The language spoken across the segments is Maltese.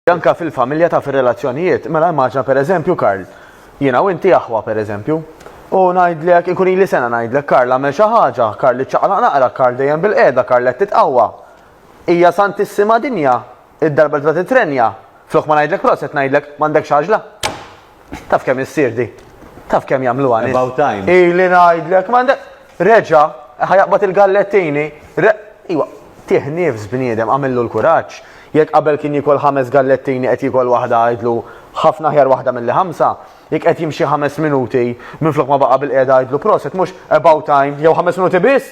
Anke fil-familja taf ir-relazzjonijiet, mela immaġina pereżempju Karl, jiena u inti aħwa pereżempju, u ngħidlek inkun ili sena ngħidlek Karl għamel xi ħaġa, Karl iċċaqlaq naqra, Karl dejjem bilqiegħda, Karl qed titqawwa. Hija santissima dinja, id-darba li tibda titrenja, flok ma ngħidlek proset ngħidlek m'għandekx għaġla. Taf kemm issir di? Taf kemm jagħmluha nies? About time. Ili ngħidlek, m'għandek reġa' ħajaqbad il-gallettini. Iwa, tih nifs bniedem għamillu l-kuraġġ. Jekk qabel kien jikol ħames gallettini qed jikol waħda għidlu ħafna ħjar waħda milli ħamsa, jekk qed jimxi ħames minuti minflok ma baqa' bil-qiegħda għidlu proset mhux about time jew ħames minuti biss,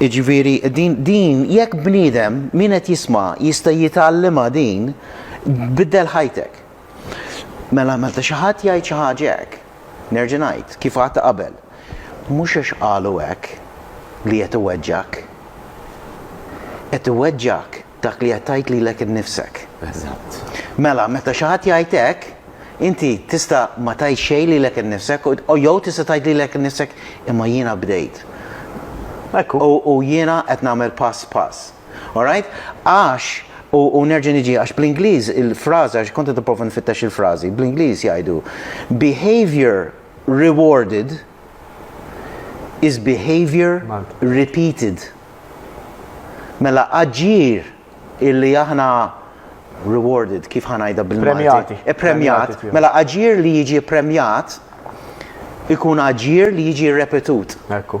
Jiġifieri din din jekk bniedem min qed jisma' jista' jitgħallimha din, biddel ħajtek. Mela meta xi ħadd jgħid xi ħaġa hekk, nerġa' ngħid kif għadt qabel, mhux għax qalu hekk li qed iweġġgħek. Qed iweġġgħek Dak li qed tgħid lilek innifsek. Eżatt. Mela, meta xi ħadd jgħid hekk, inti tista' ma tgħid xejn lilek innifsek, jew tista' tgħid lilek innifsek, imma jiena bdejt. Ekku. U jiena qed nagħmel pass pass. All right? Għax, u nerġa' niġi, għax bl-Ingliż il-fraża, għax kont qed nipprova nfittex il-frażi, bl-Ingliż jgħidu, behaviour rewarded, is behaviour repeated. Mela aġir illi aħna rewarded, kif ħa ngħidha bil-Malti? Ippremjat. Mela aġir li jiġi ppremjat ikun aġir li jiġi rrepetut. Ekku.